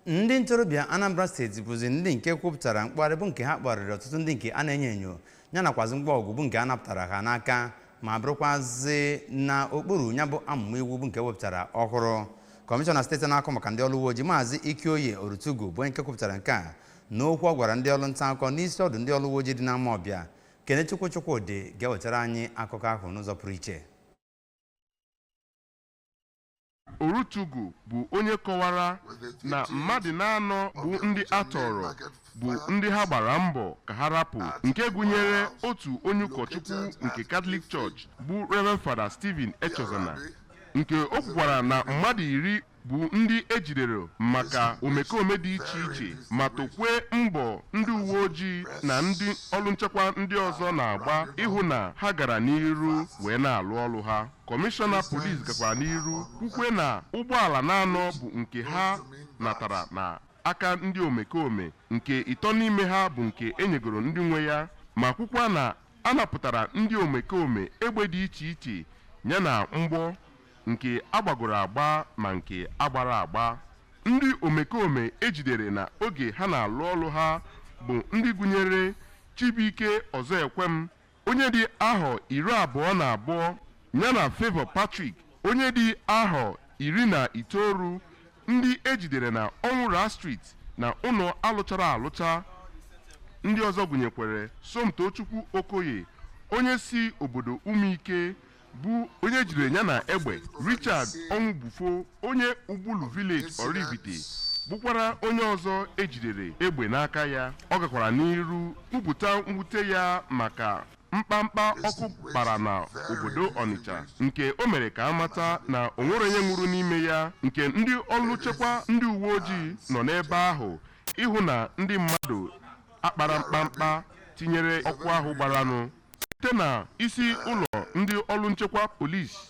ndị ntorobịa anambra steeti bụzi ndị nke kwupụtara mkpụgharị bụ nke ha kpụgharịrị ọtụtụ ndị nke a na-enyo enyo ya nakwazi ngwa ọgụ bụ nke a napụtara ha n'aka ma bụrụkwazị na okpuru ya bụ amụma iwu bụ nke e wepụtara ọhụrụ kọmishọna steeti na-ahụ maka ndị ọrụ uwe ojii maazị ikioye orutugu bụ onye nke kwupụtara nke a n'okwu ọ gwara ndị ọrụ nta akụkọ n'isi ọdụ ndị ọrụ uwe ojii dị n'amawbia kenechukwu chukwudi ga-ewetara anyị akụkọ ahụ n'ụzọ pụrụ iche Orutugu bụ onye kọwara na mmadụ n'anọ bụ ndị a tọrọ bụ ndị ha gbara mbọ ka ha rapụ nke gụnyere otu onye ụkọchukwu nke Katọlik Church bụ Reverend Father Stephen Echezona nke o kwukwara na mmadụ iri bụ ndị e jidere maka omekome dị iche iche ma tokwe mbọ ndị uwe ojii na ndị ọrụ nchekwa ndị ọzọ na-agba ịhụ na ha gara n'iru wee na-alụ ọrụ ha Kọmishọna polis gakwara n'iru kwukwe na ụgbọala n'anọ bụ nke ha natara na aka ndị omekome nke ịtọ n'ime ha bụ nke e nyegoro ndị nwe ya ma kwukwa na a napụtara ndị omekome egbe dị iche iche yana mgbọ nke a gbagoro agba ma nke agbara agba ndị omekome e jidere na oge ha na-alụ ọlụ ha bụ ndị gụnyere Chibuike Ọzọekwem onye dị ahọ iri abụọ na abụọ ya na Favour Patrick onye dị ahọ iri na itoolu ndị e jidere na Ọnwụra Street na ụlọ alụchara alụcha ndị ọzọ gụnyekwere Somtochukwu Okoye onye si obodo Ụmụike bụ onye e jidere ya na egbe Richard Ọnwụbufo onye Ugbulu Village Oraifite bụkwara onye ọzọ e jidere egbe n'aka ya ọ gakwara n'iru kwupụta mwute ya maka mkpamkpa ọkụ kpara na obodo Ọnịcha nke o mere ka a mata na o nwere onye nwụrụ n'ime ya nke ndị ọrụ nchekwa ndị uwe ojii nọ n'ebe ahụ ịhụ na ndị mmadụ akpara mkpamkpa tinyere ọkụ ahụ gbaranụ site na isi ụlọ ndị ọrụ nchekwa polisi